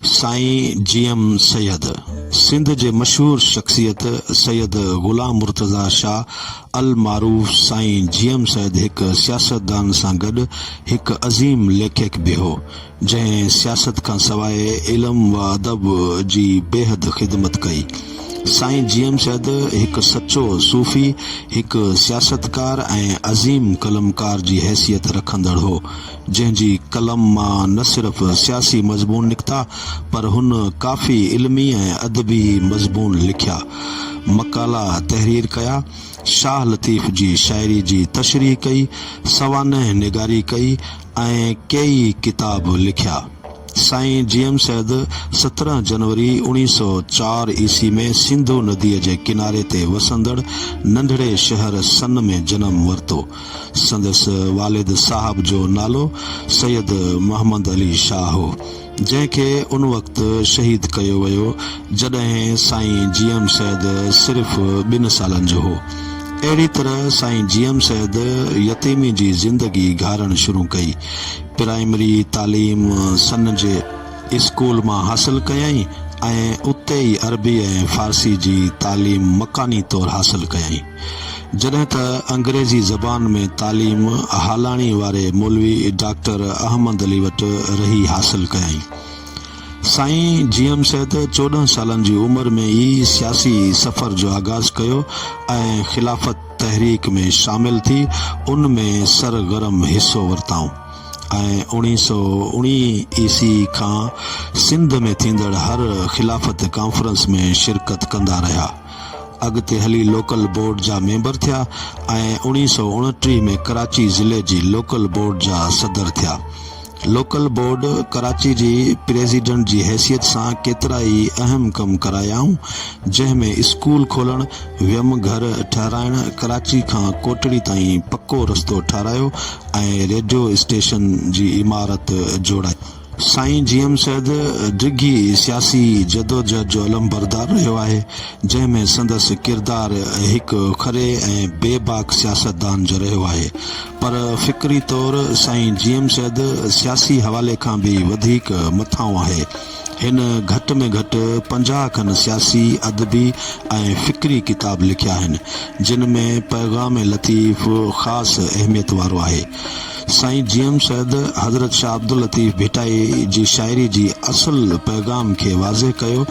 Sain G M Syed Sindh جي مشهور شخصيت سيد غلام مرتضيٰ شاهه المعروف سائين جي ايم سيد هڪ سياستدان سان گڏ هڪ عظيم ليکڪ به هو جنهن سياست کان سواء علم و ادب جي بيحد خدمت ڪئي سائين جي ايم سيد هڪ سچو صوفي هڪ سياستڪار ۽ عظيم قلمڪار جي حيثيت رکندڙ هو جنهن جي قلم مان نه صرف سياسي مضمون نڪتا پر هن ڪافي علمي ۽ ادبي مضمون لکيا، مقالا تحرير ڪيا، شاهه لطيف جي شاعري جي تشريح ڪئي، سوانح نگاري ڪئي ۽ ڪيئي ڪتاب لکيا. سائين جي ايم سيد سترهن جنوري اوڻيهه سؤ چار عيسي ۾ سنڌو نديء جي ڪناري تي وسندڙ ننڍڙي شهر سن ۾ جنم ورتو. سندس والد صاحب جو نالو سيد محمد علي شاهه هو، جنهن کي ان وقت شهيد ڪيو ويو، جڏهن سائين جي ايم سيد صرف ٻن سالن جو هو. اهڙي طرح سائين جي ايم سيد يتيمي جي زندگي گهارڻ شروع ڪئي. پرائمري تعليم سن جي اسڪول مان حاصل ڪيائين ۽ اتي ئي عربي ۽ فارسي جي تعليم مڪاني طور حاصل ڪيائين. جڏهن ته انگريزي زبان ۾ تعليم هالاڻي واري مولوي ڊاڪٽر احمد علي وٽ رهي حاصل ڪيائين. سائين جي ايم سيد چوڏهن سالن جي عمر ۾ ئي سياسي سفر جو آغاز ڪيو ۽ خلافت تحريڪ ۾ شامل ٿي ان ۾ سرگرم حصو ورتائون ۽ اوڻيهه سؤ اوڻيهه عيسي کان سنڌ ۾ ٿيندڙ هر خلافت ڪانفرنس ۾ شرڪت ڪندا رهيا. اڳتي هلي لوڪل بورڊ جا ميمبر ٿيا ۽ اوڻيهه سؤ اڻٽيهه ۾ ڪراچي ضلعي جي لوڪل بورڊ جا صدر ٿيا. لوڪل بورڊ ڪراچي جي پريزيڊنٽ جي حيثيت سان ڪيترا ئي اهم ڪم ڪرايائون، جنهن ۾ اسڪول کولڻ، ويم گهر ٺهرائڻ، ڪراچي کان ڪوٽڙي تائين پڪو رستو ٺهرايو ۽ ريڊيو اسٽيشن جي عمارت جوڙائي. سائين جي ايم سيد ڊگهي سياسي جدوجهد جو علمبردار رهيو آهي، جنهن ۾ سندس ڪردار هڪ کري ۽ بي باڪ سياستدان جو رهيو آهي، پر فڪري طور سائين جي ايم سيد سياسي حوالي کان به وڌيڪ مٿانهون آهي. هن گهٽ ۾ گهٽ پنجاهه کن سياسي، ادبي ۽ فڪري ڪتاب لکيا آهن، جن ۾ پيغام لطيف خاص اهميت وارو آهي. سائين جي ايم سيد حضرت شاهه عبداللطيف ڀٽائي جي شاعري جي اصل پيغام کي واضح ڪيو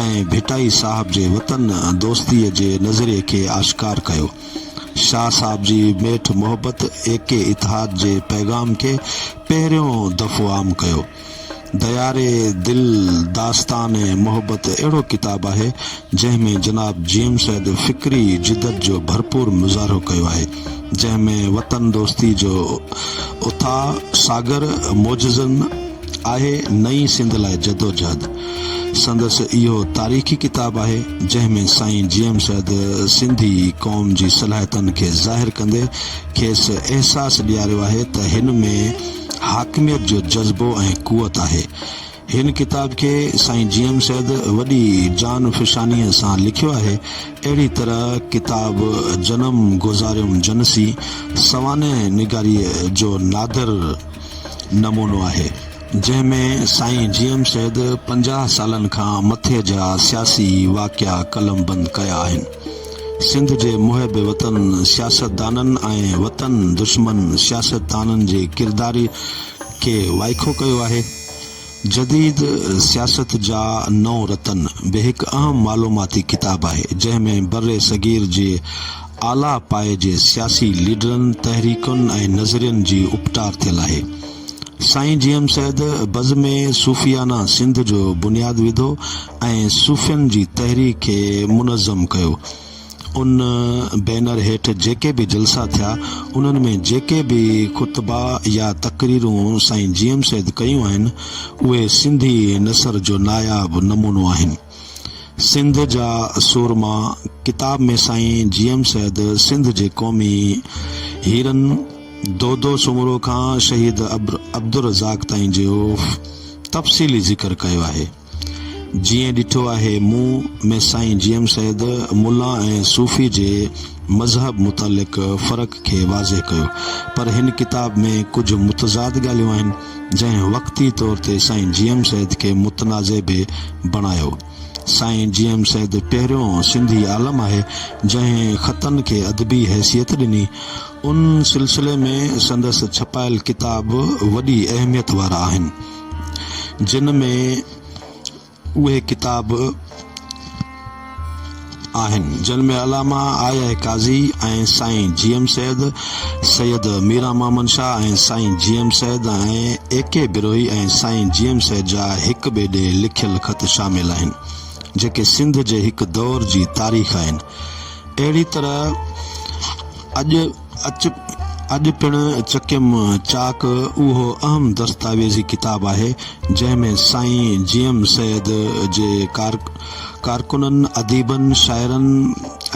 ۽ ڀٽائي صاحب جي وطن دوستي جي نظرئي کي آشڪار ڪيو. شاهه صاحب جي ميٺ محبت ايڪي اتحاد جي پيغام کي پهريون دفعو عام ڪيو. دياري دل داستان محبت اهڙو ڪتاب آهي، جنهن ۾ جناب جيم سيد فڪري جدت جو ڀرپور مظاهرو ڪيو آهي، جنهن ۾ وطن دوستي جو اٿاهه ساگر موجزن آهي، نئين سنڌ لاء جدوجهد سندس اهو تاريخي ڪتاب آهي، جنهن ۾ سائين جيم سيد سنڌي قوم جي صلاحيتن کي ظاهر ڪندي کيس احساس ڏياريو آهي ته هن ۾ حاڪميت جو جذبو ۽ قوت آهي. هن ڪتاب کي سائين جي ايم سيد وڏي جان فشانيء سان لکيو آهي. اهڙي طرح ڪتاب جنم گذاريم جنسي سوانح نگاريء جو نادر نمونو آهي، جنهن ۾ سائين جي ايم سيد پنجاهه سالن کان مٿي جا سياسي واقعا قلمبند ڪيا آهن. سنڌ جي محب وطن سياستدانن ۽ وطن دشمن سياستدانن جي ڪردار کي وائکو ڪيو آهي. جديد سياست جا نو رتن به هڪ اهم معلوماتي ڪتاب آهي، جنهن ۾ برصغير جي اعليٰ پائي جي سياسي ليڊرن، تحريڪن ۽ نظرين جي اپٽار ٿيل آهي. سائين جي ايم سيد بزم صوفيانه سنڌ جو بنياد وڌو. ۽ صوفين جي تحريڪ کي منظم ڪيو. ان بينر هيٺ جيڪي به جلسا ٿيا، انهن ۾ جيڪي به خطبا يا تقريرون سائين جي ايم سيد ڪيون آهن، اهي سنڌي نثر جو ناياب نمونو آهن. سنڌ جا سورما ڪتاب ۾ سائين جي ايم سيد سنڌ جي قومي هيرن دودو سومرو کان شهيد عبدالرزاق تائين جو تفصيلي ذڪر ڪيو آهي. جيئن ڏٺو آهي مون ۾ سائين جي ايم سيد ملا ۽ صوفي جي مذهب متعلق فرق کي واضح ڪيو پر هن ڪتاب ۾ ڪجهه متضاد ڳالهيون آهن جنهن وقتي طور تي سائين جي ايم سيد کي متنازع به بڻايو سائين جي ايم سيد پهريون سنڌي عالم آهي جنهن خطن کي ادبي حيثيت ڏني ان سلسلي ۾ سندس ڇپايل ڪتاب وڏي اهميت وارا آهن. جن ۾ اهي ڪتاب آهن، جن ۾ علامه آء اي قاضي ۽ Sain G M Syed, Syed Miran Muhammad Shah ۽ Sain G M Syed ۽ A K Brohi ۽ Sain G M Syed جا هڪ ٻئي ڏي لکيل خط شامل آهن، جيڪي سنڌ جي هڪ دور جي تاريخ آهن. اهڙي طرح اڄ اچ، اڄ پڻ چڪيم چاڪ اهو اهم دستاويزي ڪتاب آهي، جنهن ۾ سائين جي ايم سيد جي ڪارڪنن، اديبن، شاعرن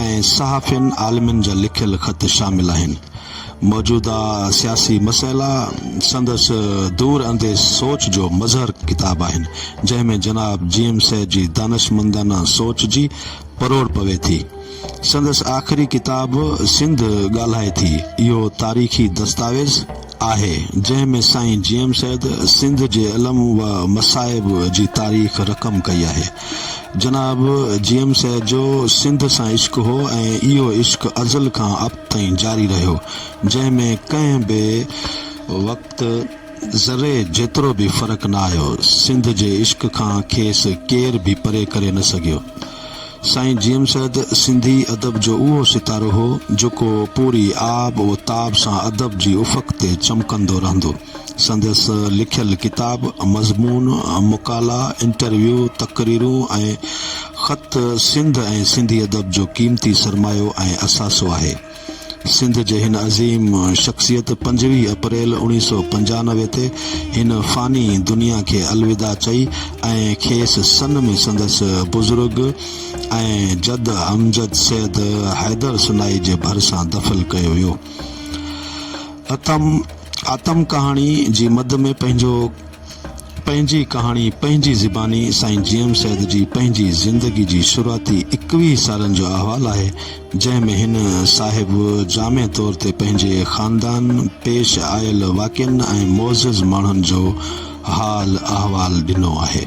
۽ صحافين، عالمن جا لکيل خط شامل آهن. موجوده سياسي مسئلا سندس دور انديش سوچ جو مظهر ڪتاب آهن، جنهن ۾ جناب جي ايم سيد جي دانشمندانه سوچ جي پروڙ پوي ٿي. سندس آخري ڪتاب سنڌ ڳالهائي ٿي اهو تاريخي دستاويز آهي جنهن ۾ سائين جي ايم سيد سنڌ جي علم و مصائب جي تاريخ رقم ڪئي آهي جناب جي ايم سيد جو سنڌ سان عشق هو ۽ اهو عشق ازل کان ابد تائين جاري رهيو جنهن ۾ ڪنهن به وقت ذري جيترو به فرق نه آيو سنڌ جي عشق کان کيس ڪير به پري ڪري نه سگهيو. سائين جي ايم سيد سنڌي ادب جو اهو ستارو هو جيڪو پوري آب و تاب سان ادب جي افق تي چمڪندو رهندو. سندس لکيل ڪتاب، مضمون، مقالا، انٽرويو، تقريرون ۽ خط سنڌ ۽ سنڌي ادب جو قيمتي سرمايو ۽ اثاثو آهي. سنڌ جي هن عظيم شخصيت پنجويهه اپريل اوڻيهه سؤ پنجانوي تي هن فاني دنيا کي الوداع چئي ۽ کيس سن ۾ سندس بزرگ ۽ جد امجد سيد حيدر سنائي جي ڀرسان دفل ڪيو ويو. اتم ڪهاڻي جي مد ۾ پنهنجو پنهنجي ڪهاڻي پنهنجي زباني سائين جي ايم سيد جي پنهنجي زندگي جي شروعاتي ايڪويهه سالن جو احوال آهي جنهن ۾ هن صاحب جامع طور تي پنهنجي خاندان پيش آيل واقعن ۽ معزز ماڻهن جو حال احوال ڏنو آهي.